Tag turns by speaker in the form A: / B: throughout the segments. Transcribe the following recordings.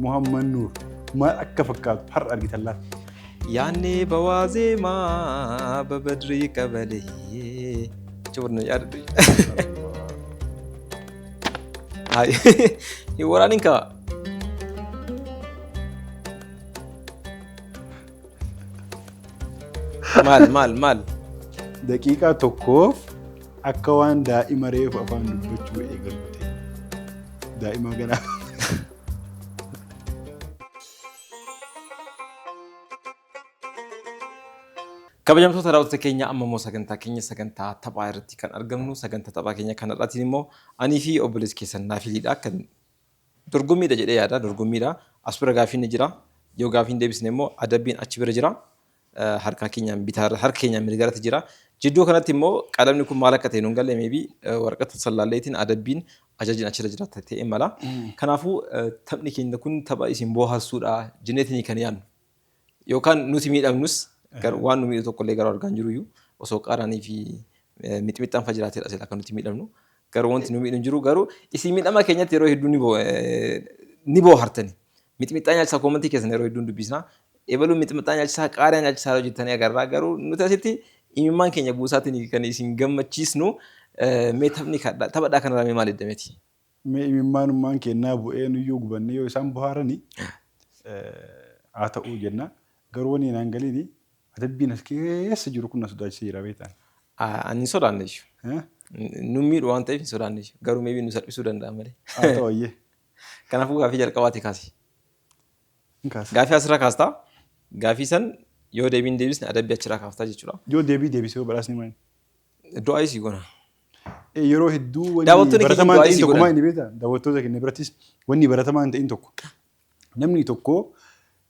A: Muhammad Nuur maal akka fakkaatu har'a argitan laata? Yaanni
B: bawaa zeemaa babadrii qabalee. Cuurni yaaddu. Hin waraanin kaa. Maal maal maal.
A: Daqiiqaa tokkoof akka waan daa'ima reefu afaan dubbachuu eegalu ta'e. Daa'ima ganaa.
B: Kabajamtoota daawwattoota keenya amma immoo sagantaa keenya sagantaa taphaa irratti kan argamnu sagantaa taphaa keenya kanarraatiin immoo anii fi obboleessi keessan naaf hiliidha kan Dorgommiidha jedhee yaada. Dorgommiidha. As bira gaaffiin ni jira. Yoo gaaffii hin deebisne immoo adabbiin achi bira jira. Harka keenyaan bitaarra, harka keenyaan mirgarratti jira. Jidduu kanatti immoo qalamni kun maal akka ta'e nun galle meebii waraqaa tasallaalleetiin adabbiin ajajin achirra jira ta'e mala. Kanaafuu taphni keenya kun tapha isin booharsuudha jenneetiin kan yaadnu. Yookaan nuti miidhamnus garuu waan nu miidhu tokkollee garuu argaa hin jiruyyuu osoo qaaraanii fi eh, mixmixxaan fa jiraatedha silaa kan nuti miidhamnu garuu wanti nu miidhu hin jiru garuu isin miidhama keenyatti yeroo hedduu ni boo- eh, ni boohartani mixmixxaa nyaachisaa koomantii keessan yeroo hedduun dubbisna ebaluu mixmixxaa nyaachisaa qaaraa nyaachisaa yeroo jettanii agarraa garuu nuti asitti imimmaan keenya buusaatiin kan isin gammachiisnu eh, mee taphni kadhaa taphadhaa kanarraa mee maal edda miti Mee imimmaanummaan
A: keennaa bu'ee nuyyuu gubannee yoo isaan bohaarani haa ta'uu jenna. Garuu wani naan galiini adabbiin as keessa jiru kun na sodaachise jira beektaan. An hin sodaanne
B: ishu. Nun miidhu waan ta'eef hin sodaanne ishu. Garuu maybe nu salphisuu danda'a malee. Haa ta'u ayyee.
A: Kanaafuu gaafii
B: jalqabaati kaasi. Hin kaasa. Gaafii asirra kaastaa gaafii san yoo deebiin deebisne adabbii achirraa kaaftaa jechuudha. Yoo deebii deebise yoo
A: badhaasni maali? Du'aayii sii
B: goona. Eh, Yeroo
A: hedduu wanni Daawwattoonni keenya baratamaa du'aa hin ta'in isii tokko godhan. maal inni beektaa? Daawwattoota keenya birattis wanni baratamaa hin ta'in tokko. Namni tokko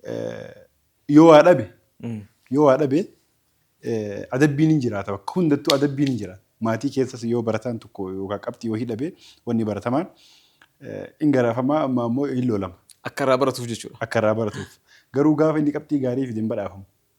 A: eh, yoo waa dhabe yoo waa dhabe eh, adabbiin hin jiraata bakka hundattuu adabbiin hin jiraata. Maatii keessas yoo barataan tokko yookaan qabxii wahii dhabe wanni baratamaan eh, hin garaafamaa amma ammoo hin loolama. Akka irraa baratuuf
B: jechuudha. akka irraa baratuuf.
A: Garuu gaafa inni qabxii gaarii fide hin badhaafamu.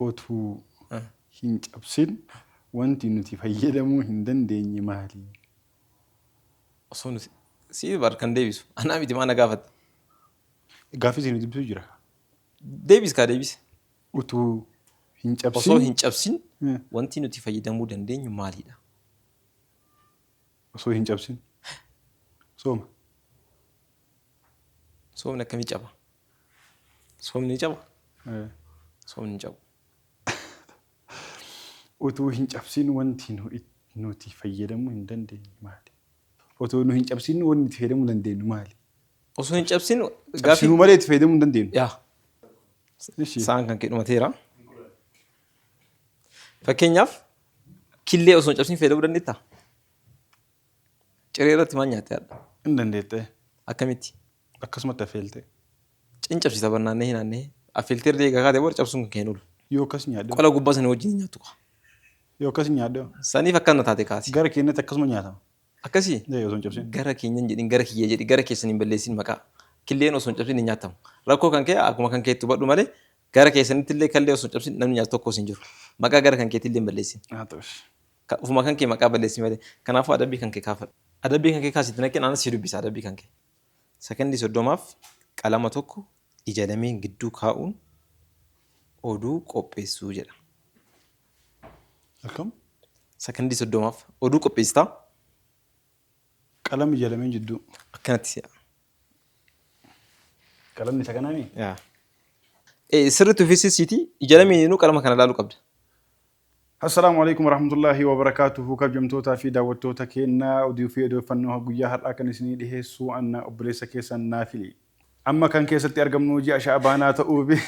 A: otuu hin cabsin wanti nuti fayyadamuu hin dandeenye maali?
B: Osoo nuti siif bar kan deebisu anaa miti maa na gaafatta?
A: Gaaffii isin dubbisu jira. Deebis
B: kaa deebis. Utuu
A: hin Osoo cabsin hin cabsin Eh.
B: wanti nuti fayyadamuu dandeenyu maalidha?
A: osoo hin cabsin sooma.
B: Soomni akkamii caba? Soomni ni caba? Ee. Soomni hin cabu.
A: Utuu hin cabsin wanti nu it, nuti fayyadamuu hin dandeenye maali? Otoo nu hin cabsin wanni itti fayyadamuu dandeenyu maali? Osoo hin
B: cabsin gaaffii... Cabsinuu malee itti
A: fayyadamuu hin dandeenyu. Yaa.
B: Ishi. Sa'aan kan kee dhumateera. Fakkeenyaaf killee osoo hin cabsin fayyadamuu dandeettaa? Ciree irratti maal nyaattee hadha? Hin dandeettee.
A: Akkamitti?
B: akkasumatti
A: affeelte. Cin cabsii
B: taban naannahee naannahee affeeltee erga eegaa kaate booda cabsuun kan kee hin oolu. Yoo akkas nyaadhe Qola
A: gubbaa sanii wajjin hin nyaattu
B: kaa. yoo akkas
A: nyaadhe Saniif akkana taate
B: kaati. gara keenyatti akkasuma nyaatama.
A: Akkasii? Ee osoo hin
B: cabsin. Gara
A: keenya hin jedhin gara
B: kiyya jedhi gara keessan hin balleessin maqaa. Killeen osoo hin cabsin hin nyaattamu. Rakkoo kan kee akkuma kan keetti hubadhu malee gara keessanitti illee kallee osoo hin cabsin namni nyaatu tokkos hin jiru. Maqaa gara kan keetti illee hin balleessin. Haa ta'us. Ka- Ofuma kan kee maqaa balleessi malee. Kanaafuu adabbii kan kee kaafadhu. Adabbii kan kee kaasitti naqeen anas si dubbisa adabbii kan kee. Sekondii 30f qalama tokko ija lameen gidduu kaa'uun oduu qopheessuu jedha.
A: Akkam? Sekondii
B: 30f oduu qopheessitaa
A: Qalama ija lameen jidduu. akkanatti si'a. Qalamni isa kanaa mii? Yaa.
B: Eh, Sirriitti uffisiisiitii ija lameeninuu qalama kana ilaaluu qabda. Assalaamu
A: Aleykum Warahmatullaahi Wabarakaatuhu Kabjamtootaa fi daawwattoota keenna oduu fi odeeffannoo guyyaa har'aa kan isinii dhiheessu anna obboleessa keessan Naafili. Amma kan keessatti argamnu ji'a Sha'abaanaa ta'uu fi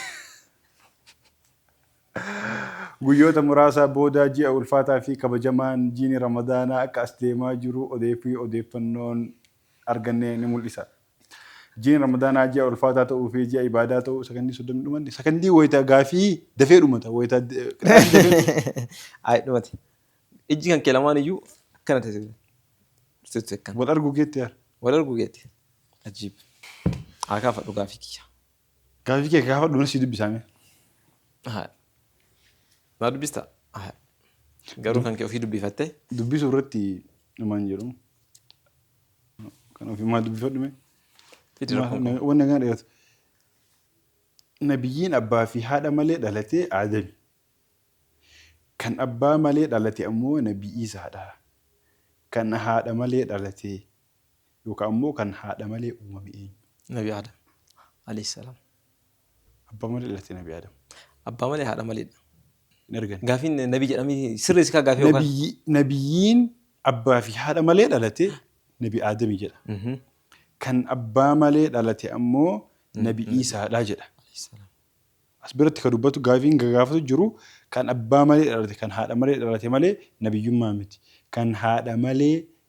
A: guyyoota muraasa booda ji'a ulfaataa fi kabajamaan jiini Ramadaanaa akka as deemaa jiru odee fi odeeffannoon arganne ni mul'isa. Jiin Ramadaanaa ji'a ulfaataa ta'uu fi ji'a ibaadaa ta'uu sakandii soddomni dhumanne sakandii wayita gaafii dafee
B: dhumata
A: wayita Ayi dhumate.
B: Ijji kan kee lamaan iyyuu akkana ta'e. Tutti akkana. wal arguu geetti yaar.
A: Wal arguu geetti.
B: Ajiib. Haa kaafadhu gaafii kiyya. Gaafii kee
A: gaafadhu na sii dubbisaa mee.
B: Haa. Naa dubbista? Haa. Garuu kan kee ofii dubbifattee? Dubbisuu irratti
A: dhumaan jedhu. Kan ofii maa dubbifadhu mee. Fidi rakkoon
B: kun. Waan nagaan dheeratu.
A: Nabiyyiin abbaa fi haadha malee dhalatee Aadami. Kan abbaa malee dhalate ammoo Nabii Iisaadha. Kan haadha malee dhalate Yookaan immoo kan haadha malee uumame eenyu? Nabi Aadam,
B: aleyh salaam. Abbaa
A: malee dhalate Nabi Aadam. Abbaa malee haadha
B: malee dha. Hin argani.
A: Gaafiin nabi jedhamee
B: sirreessi kaa gaafii yookaan. Nabiyyi, nabiyyiin
A: abbaa fi haadha malee dhalate Nabi Aadami jedha. Mhm. Kan abbaa malee dhalate ammoo Nabi Iisaadha jedha. Aleyh salaam. As biratti ka dubbatu gaafiin ka gaafatu jiru kan abbaa malee dhalate kan haadha malee dhalate malee nabiyyummaa miti. Kan haadha malee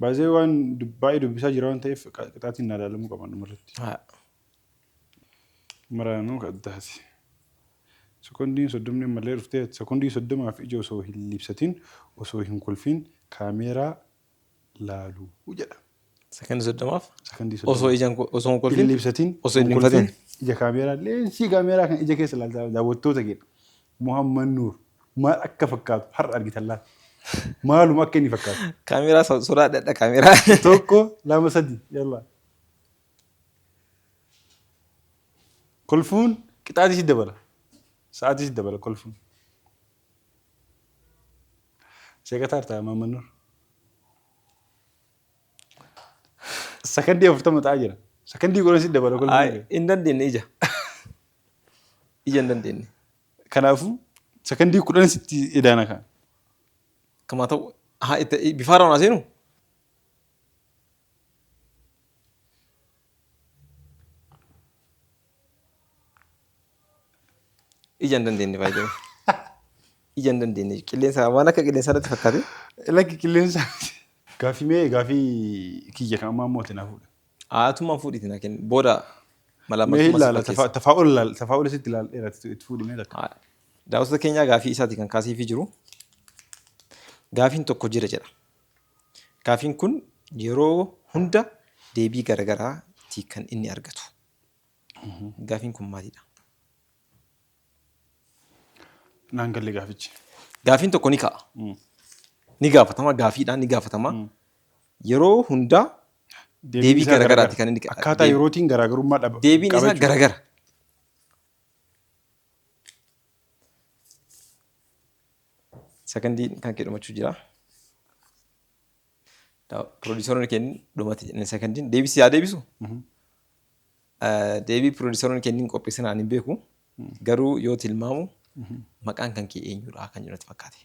A: Baay'ee waan dub- baay'ee dubbisaa jira waan ta'eef qa- qixaatiin naa ilaalamuu qaban dhumarratti. Haa. Maraanuu ka addaati. Sekondiin soddomni ammallee dhuftee sekondii soddomaaf ija osoo hin liibsatiin osoo hin kolfiin kaameeraa laalu jedha. Sekondi soddomaaf
B: Sekondii osoo soddoma. ijaan
A: ko- osoo hin
B: Hin kolfin liibsatiin osoo
A: hin hin
B: kolfiin
A: liibsatiin.
B: ija kaameeraa
A: leensii kaameeraa kan ija keessa ilaaltaa daawwattoota keedha. Muhammad Nuur maal akka fakkaatu har'a argitan laata? Maaluma akka inni fakkaatu? Kaameeraa so- sodaadhadha
B: kaameeraa. Tokko lama
A: sadi yalla. Kolfuun qixaatii si dabala. Sa'aatii si dabala kolfuun. Seeqataa hartaa Muhammad Nuur. Sakandii afurtama ta'aa jira. Sakandii godhan si dabala kolfuun. Ay, Hin dandeenye ija.
B: ija hin dandeenne. Kanaafuu
A: sakandii kudhan sitti edaana kaa. Kamaa
B: ta'u haa itti bifaara waan seenu. Ija hin dandeenne baay'ee. Ija hin dandeenne qilleensa waan akka qilleensaa irratti fakkaate. Lakki qilleensa.
A: Gaafii mee gaafii kiyya kan ammaa mootiin hafuudha. Aatuman fuudhiti na
B: kenni. Booda malaammaltummaa
A: si fakkeessa. Tafaa'ul laal. Tafaa'ul isitti laal dheerati itti fuudhimee takka. Daawwattoota keenyaa
B: gaafii isaati kan kaaseefii jiru. Gaafiin tokko jira jedha. Gaafiin kun yeroo hunda deebii garagaraati kan inni argatu. Gaafiin kun maalidha?
A: Naan galle gaafichi. Gaafiin tokko ni ka'a.
B: Ni gaafatama, gaafiidhaan ni gaafatama. Yeroo hundaa deebii isaa garagaraatti kan inni Akkaataa deeb- yerootiin garaagarummaa
A: dhaba. deebiin qaba isaa jechuudha. garagara.
B: Sekondiin kan kee dhumachuu jira. Pirodiisaroonni kennin dhumatti sekandiin deebisi yaa deebisu. Deebii pirodiisaroonni kennin qopheessan ani hin beeku. Garuu yoo tilmaamu maqaan kan kee eenyudha kan jedhu natti fakkaate.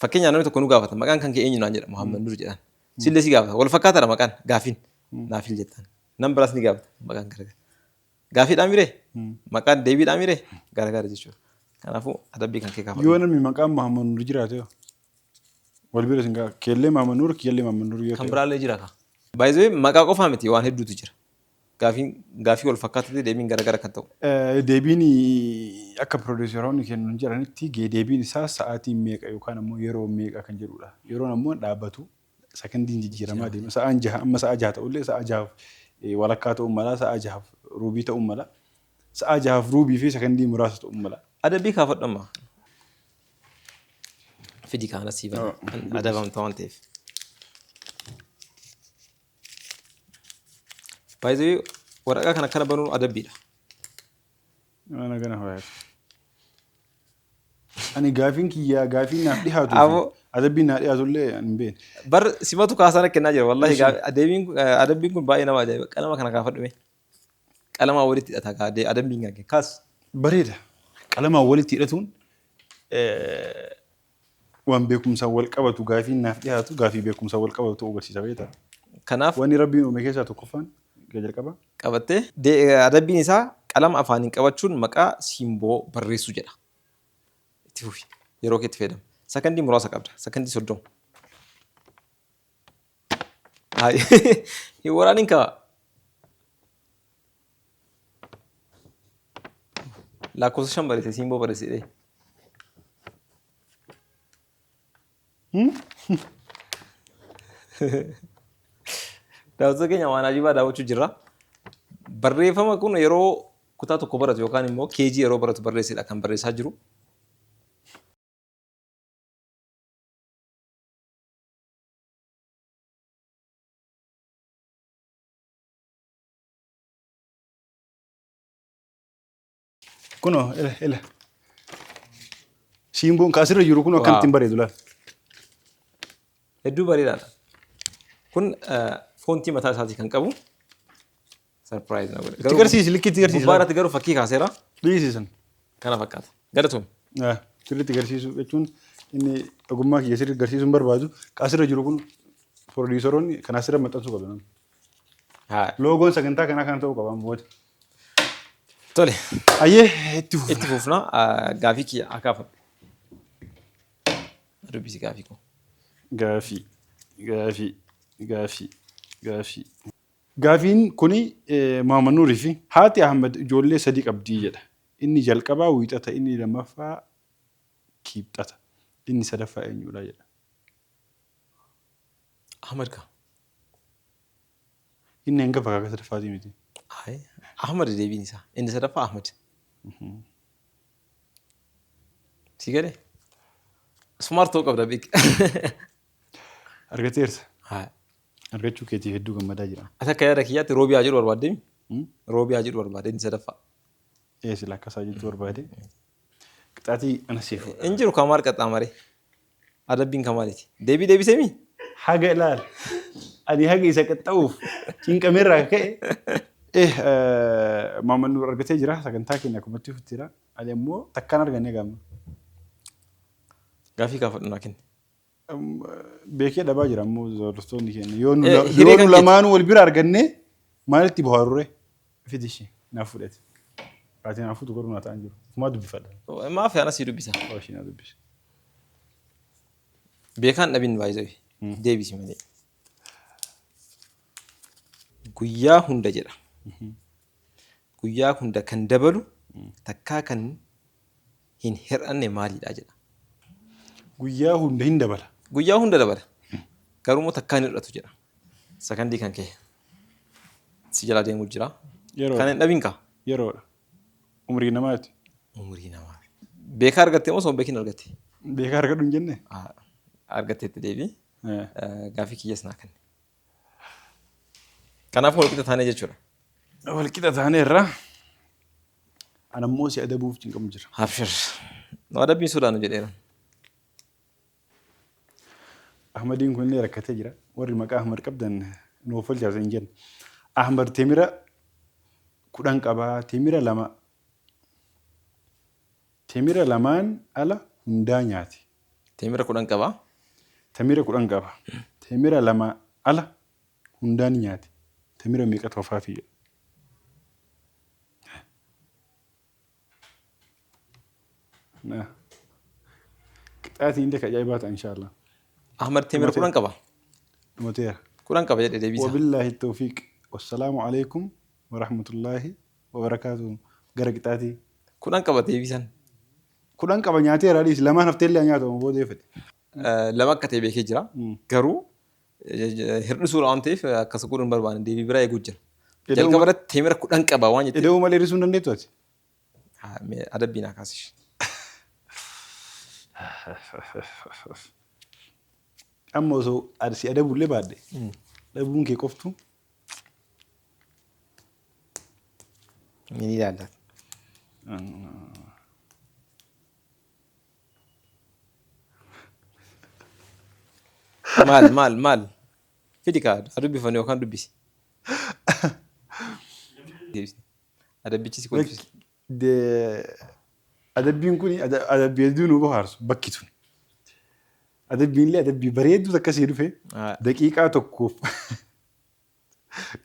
B: Fakkeenyaaf namni tokko nu gaafata maqaan kan kee eenyu naan jedha Muhammad Nur jedhan. Sillee si gaafata wal fakkaataadha maqaan gaafiin naafil jettaan. Nam biraas ni gaafata maqaan garagara. Gaafiidhaa miree? Maqaa deebiidhaa miree? Garagaara jechuudha. Kanaafuu adabbii kan kee Yoo kaafadhu. namni maqaan Mahammad Nuur
A: jiraate hoo? wal bira isin ga'a. Keellee Mahammad Nuur, kiyyallee Mahammad Nuur yoo Kan ta'e. biraallee jira kaa.
B: Baay'ee maqaa qofaa miti waan hedduutu jira. Gaafiin gaafii wal fakkaatutti deebiin garagara kan ta'u. Eh, Deebiin
A: akka piroodiiseroonni kennan jedhanitti gee- deebiin isaa sa'aatiin meeqa yookaan ammoo yeroo meeqa kan jedhudha. Yeroon ammoo hin dhaabbatu. Sakandiin jijjiiramaa deema. Sa'aan jaha amma sa'aa jaha ta'ullee sa'aa jahaaf walakkaa ta'uu mala, sa'aa jahaaf ruubii ta'uu mala. Sa'aa jahaaf ruubii fi sakandii muraasa ta'uu mala. Adabbii kaafadhu amma.
B: Fidi kaana sii bana. Adabamta waan ta'eef. Baay'ee waraqaa kana akkana banuun adabbiidha.
A: Nama nagana faayatu. Ani gaafiin kiyyaa gaafii naaf dhihaatu Abo. adabbiin naa dhihaatu illee ani hin beekne. Bar simatu
B: kaasana kennaa jira wallahi Eshi. gaa- adeemiin kun- eh, adabbiin kun baay'ee nama ajaa'iba qalama kana kaafadhu mee qalamaa walitti hidhata kaa ade- adabbiin kan kee kaas Bareeda.
A: Qalamaan walitti hidhatuun
B: eh,
A: waan beekumsaan wal qabatu gaafiin naaf dhiyaatu gaafii beekumsaan wal qabatu ta'uu agarsiisa beekta. Kanaaf. Wanni
B: Rabbiin uume keessaa
A: tokkoffaan ga jalqabaa. qabattee. D.
B: Adabbiin isaa qalama afaaniin qabachuun maqaa simboo barreessuu jedha. Itti fufi. Yeroo keetti fayyadami. Sakandii muraasa qabda. Sakandii 30. Hin waraanin kaa. lakkoofsa shan barreesse siin boo barreesse jedhee. Daawwattoota keenya waan ajibaa daawwachuu jirra. Barreeffama kun yeroo kutaa tokko baratu yookaan immoo keejii yeroo baratu barreessedha kan barreessaa jiru.
A: Kunoo ila ila. Siimboon kaasirra jiru kun akkamitti hin bareedu laal.
B: Hedduu bareedaadha. Kun foontii mataa isaatii kan qabu sarpiraayiz na godhe. Itti garsiisi likki itti garsiisi.
A: Gubbaa irratti garuu fakkii kaaseera.
B: Dhiisisan.
A: Kana fakkaata.
B: Galatoon. Sirriitti
A: garsiisuu jechuun inni ogummaa kiyya sirriitti garsiisuu hin barbaadu. Kaasirra jiru kun pirodiisaroonni kan asirra maxxansuu qabu. Haa. Loogoon sagantaa kanaa kana ta'uu qaba amma booda.
B: Tole. Ayyee
A: itti fufa. Itti fufna ah,
B: gaafii kiyya haa kaafadhu. Dubbisi gaafii koo. Gaafii, gaafii, gaafii,
A: gaafii. Gaafiin kuni eh, Muhammad Nuurii fi haati Ahmed ijoollee sadii qabdii jedha. Inni jalqabaa wiixata, inni lammaffaa kiibxata, inni sadaffaa eenyudha jedha.
B: Ahmad kaa.
A: Inni hangafa kaaka sadaffaatii miti. Hayi. Ahmad
B: deebiin isaa. Inni sadaffaa Ahmad. Si galee? Smart ta'uu qabda beeki.
A: Argateerta. Hayi. Argachuu keetiif hedduu gammadaa jira. Ati akka yaada kiyyaatti roobii
B: haa jedhu barbaadde mi? Hmm? Roobii haa jedhu barbaadde inni sadaffaa. Ee sila
A: akkasaa jechuu barbaade. Qixaatii ana siif. Hin jiru kamaar qaxxaamaree.
B: Adabbiin kan maaliti? Deebii deebisee mii? Haga ilaal.
A: Ani haga isa qaxxa'uuf cinqameerraa akka ka'e. Eh, Muhammad Nuur argatee jira. Sagantaa keenya akkumatti futti jira. Ani ammoo takkaan arganne gaamma.
B: Gaafii kaafadhu naa kenni.
A: Beekee dhabaa jira ammoo hordoftoonni keenya. Yoo nu Eh, hiree yoo kan nu lamaanuu wal bira arganne maalitti bohaaruree? Fidi ishii naaf fudhati. Ati naaf fuutu garuu naa ta'an jiru. Kumaa dubbifadha. Maaf ana sii dubbisa.
B: Waa ishii naa dubbisa. Beekaan dhabin baay'ee deebisi malee. Guyyaa hunda jedha. Guyyaa hunda kan dabalu takkaa kan hin hir'anne maalidha jedha.
A: Guyyaa hunda hin dabala. Guyyaa hunda dabala.
B: Garuu immoo takkaa hin hir'atu jedha. Sakandii kan kee si jalaa deemuu jira. Yeroo. Kan hin dhabin kaa. Yeroodha.
A: Umrii namaati. Umurii namaa.
B: Beekaa argattee moo osoo hin beekin argatte? Beekaa argadhu hin jenne?
A: Ah, Argatteetti
B: deebii. Eh, Eh, Gaaffii kiyyas naa kenni. Kanaafuu walqixa taanee jechuudha. Wal qixa
A: taanee irraa anammoo si adabuuf cinqamu jira. Abshir.
B: Nu adabbiin sodaannu jedheera.
A: Ahmadiin kun illee rakkatee jira. Warri maqaa Ahmad qabdan nuuf olchaasa hin jenna. Ahmad temira kudhan qaba. Temira lama temira lamaan ala hundaa nyaate. Temira kudhan
B: qaba. Temira kudhan
A: qaba. Temira lama ala hundaa ni nyaate. Temira meeqatu hafaafi jedha. Qixxaatiin illee ka ajaa'ibaa ta'a inshaallah. Ahmad Temir
B: kudhan qaba. Dhumateera.
A: Kudhan qaba jedhe
B: deebiisa. Wabillaahi tawfiiq.
A: Wassalaamu alaikum warahmatullaahi wabarakaatuhu. Gara qixxaatii. Kudhan qaba deebiisan.
B: Kudhan
A: qaba nyaateera dhiis lamaan hafteellee nyaata booda yoo fedhe. lama akka
B: ta'e beekee jira. Garuu hir'isuudha waan ta'eef akkas godhuun barbaanne deebii biraa eeguu jira. Jalqaba irratti teemira kudhan qaba waan jettee. Ida'uu malee hir'isuu hin dandeettu ati. Adabbiin haa kaasish.
A: Amma osoo si adabullee baadde dhabuun kee qoftu
B: ni ilaallata. Maal maal maal. Fidi kaa haa dubbifan yookaan dubbisi. Adabbichi si kolfisa.
A: Adabbiin kun adabbii hedduu nu bohaarsu bakki tun. Adabbiin illee adabbii bareedduu takka sii dhufe daqiiqaa tokkoof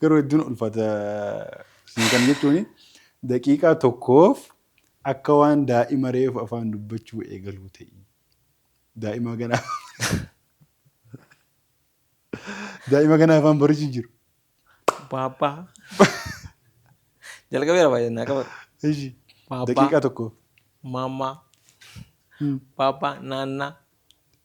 A: Garuu hedduun ulfata isin kan jechuun daqiiqaa tokkoof akka waan daa'ima reefu afaan dubbachuu eegaluu ta'i. Daa'ima ganaa daa'ima ganaa afaan barichi jiru. Baabbaa.
B: Jalqabeera baay'ee naa qabatu. Ishi Baabbaa.
A: daqiiqaa tokkoof. Maammaa.
B: Hmm. Baabbaa. Naannaa.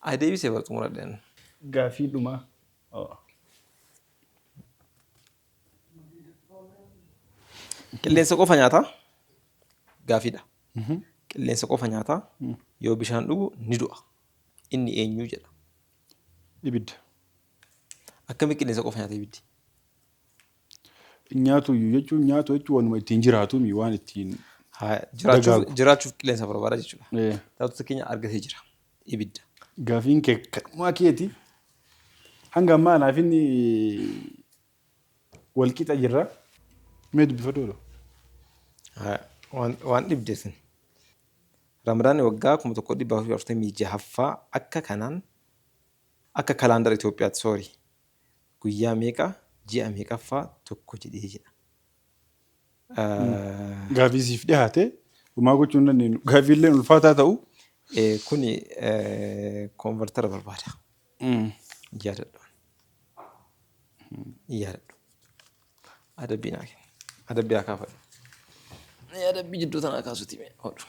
A: Ay
B: deebise bar xumuradhen. Gaafii dhumaa.
A: Oh.
B: Qilleensa qofa nyaataa gaafiidha. Qilleensa qofa nyaataa yoo bishaan dhugu ni du'a. Inni eenyu jedha.
A: Ibidda.
B: Akkami qilleensa qofa nyaata ibiddi? Hin
A: nyaatu iyyuu jechuun nyaatu jechuun waanuma ittiin jiraatu mi waan ittiin Haa, jiraachuuf, Dagaagu.
B: jiraachuuf qilleensa barbaada jechuudha. Eh. Taatota keenya argatee jira. Ibidda. gaafiin kee
A: kanumaa keeti. Hanga ammaa anaaf inni wal qixa jirra. Mee dubbifadhu odoo. Haa, Waan,
B: waan dhibde sin. Ramadaanni waggaa 1446ffaa akka kanaan akka kalaandara Itoophiyaatti, sorry. Guyyaa meeqa ji'a meeqaffaa tokko jedhee jedha.
A: Gaafii siif dhihaate homaa gochuu hin dandeenyu. Gaafiilleen ulfaataa ta'u. Kun
B: konvertara barbaada. Yaadadhu. Yaadadhu. Adabbii naa kenna. Adabbii haa kaafadhu. Adabbii jidduu tanaa kaasuuti mee hodhu.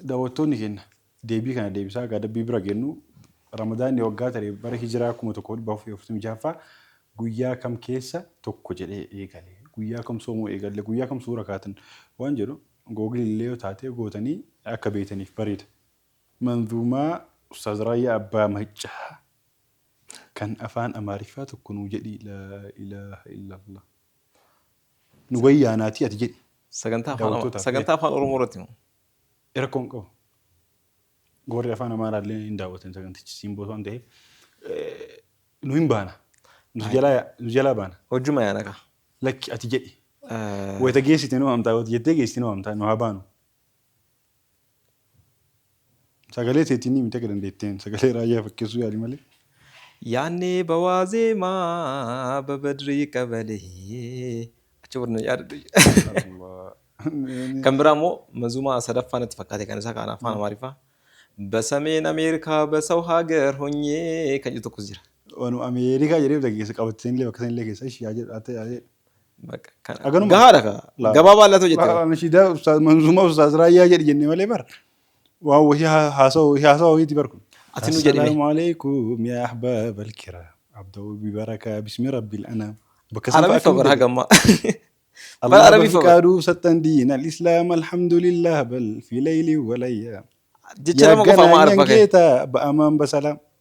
A: Dawwattoonni keenna deebii kana deebisaa gaadabbii bira geennu Ramadaanni waggaa tare bara Hijiraa 1446ffaa guyyaa kam keessa tokko jedhee eegale? Guyyaa kam soomuu eegalle? Guyyaa kam suura kaatan? Waan jedhu Google illee yoo taate gootanii akka beeytaniif bareeda. Manzuumaa Ustaaz Raayyaa Abbaa Maccaa kan Afaan Amaariffaa tokko nuu jedhii laa ilaaha illaallah. nu bayi yaanaatii ati jedhi. Sagantaa afaan Daawwattootaaf,
B: eh. sagantaa afaan Oromoo irratti moo? Rakkoo hin qabu.
A: Warri afaan Amaaraa illee hin daawwatan sagantichi simboo waan ta'eef eh, nu hin baana. Nu jalaa yaa- nu jalaa baana. Hojjuma yaana kaa.
B: Lakki ati jedhi.
A: Eh, Wayita geessite nu waamtaa wayita jettee geessite nu waamtaa nu haa baanu. Sagalee teetiinii miti akka dandeetteen sagalee raayyaa fakkeessuu yaali malee. Yaannee
B: ba waazeemaa ba badrii qabalee. Achi booda na yaadadhu. Kan biraa immoo mazumaa sadaffaa natti fakkaate kan isaa kan afaan Amaariffaa. Basameen Ameerikaa basaw hagar honyee kan jedhu tokkos jira. Wanu Ameerikaa
A: jedhee bita keessa qabattee illee bakka sana illee keessa ishii haa jedhu haa ta'e haa jedhu. Bakka kana. Haganuma.
B: Gahaadha kaa. Laa. Gabaa baal'atoo jette. Laa, Nashiidaa Ustaaz Manzuumaa
A: Ustaaz Raayyaa jedhi jenne malee bar. Waan wahii haa- haasawa wahii haasawa wahiiti bar kun. Ati nu jedhime. Assalaamu
B: alaikum yaa
A: ahbaab alkiraam. Abda'uu bibarakaa bismi rabbil anaam. Bakka san fa'a Arabiffa akkamitti
B: bara hojjeta? hagammaa. Bara Allah Arabiffa
A: bara. bafiqaaduu sattan diin al-islaam alhamdulillah bal fi layli walayyaa. Jecha lama
B: qofa ammaa Arabba kee. keeta ba'amaan
A: basalaam.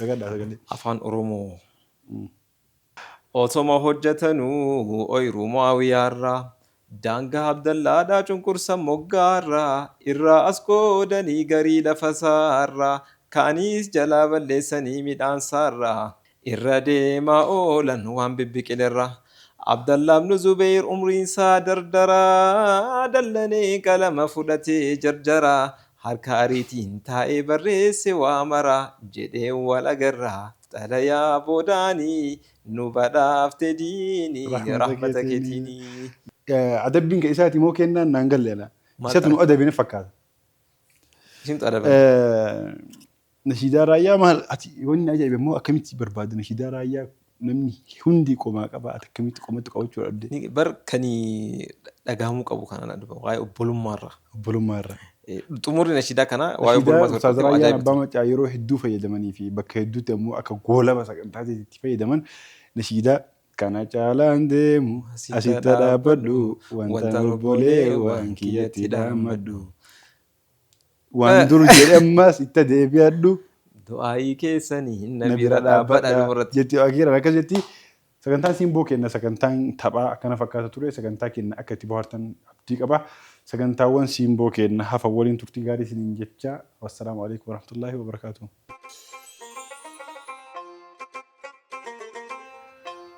A: Dagadhaa sagalee. Afaan
B: Oromoo. Otoma hojjatanuu oyiruu Mu'aawiyaarraa Daangaa Abdallaadhaa cunqursan moggaarraa Irraa as qoodanii garii lafasaarraa Kaanis jalaa balleessanii midhaansaarraa Irra deemaa oolan waan bibbiqilerraa Abdallaa ibnu Zubeyr umriinsaa dardaraa Dallanee qalama fudhatee jarjaraa Harka ariitiin taa'ee barreesse waa mara jedhee wal agarra xalayaa boodaani nu badhaafte diini rahmata keetiini. Adabbiin
A: ka isaati moo keennaan naan galle anaa. Isatu nu adabe na fakkaata. Isintu
B: adabame.
A: Nashiidaa raayyaa maal ati wanni ajaa'ibe immoo akkamitti barbaadde nashiidaa raayyaa namni hundi qomaa qaba ati akkamitti qomatti qabachuu dhabde. Ni- Bar kani
B: dhagahamuu qabu kana na dhufa waa'ee obbolummaarra. Obbolummaa irra.
A: Eh, Xumurri
B: nashiidaa kana waa'ee Nashiidaa obbolummaarra Ustaaz tokko Raayyaan ajaa'ibati. Abbaa Maccaa
A: yeroo hedduu fayyadamanii fi bakka hedduutti ammoo akka goolaba sagantaa itti fayyadaman nashiidaa kana caalaan deemu asitti dhaabbadhu wantaan obboleewwan kiyyatti dhaammadhu. Waan dur jedhe ammaas itti deebi'adhu. Du'aa'ii
B: keessani na Na bira bira dhaabbadha dhaabbadha. dhumarratti. Jetti Akiiraan
A: akkas
B: jetti.
A: Sagantaan simboo kenna sagantaan taphaa akkana fakkaata ture sagantaa kenna akka itti bohaartan abdii qaba. Sagantaawwan simboo kenna hafa waliin turtii gaarii isiniin jecha wassalaamu alaikum warahmatullaahi wabarakaatuh.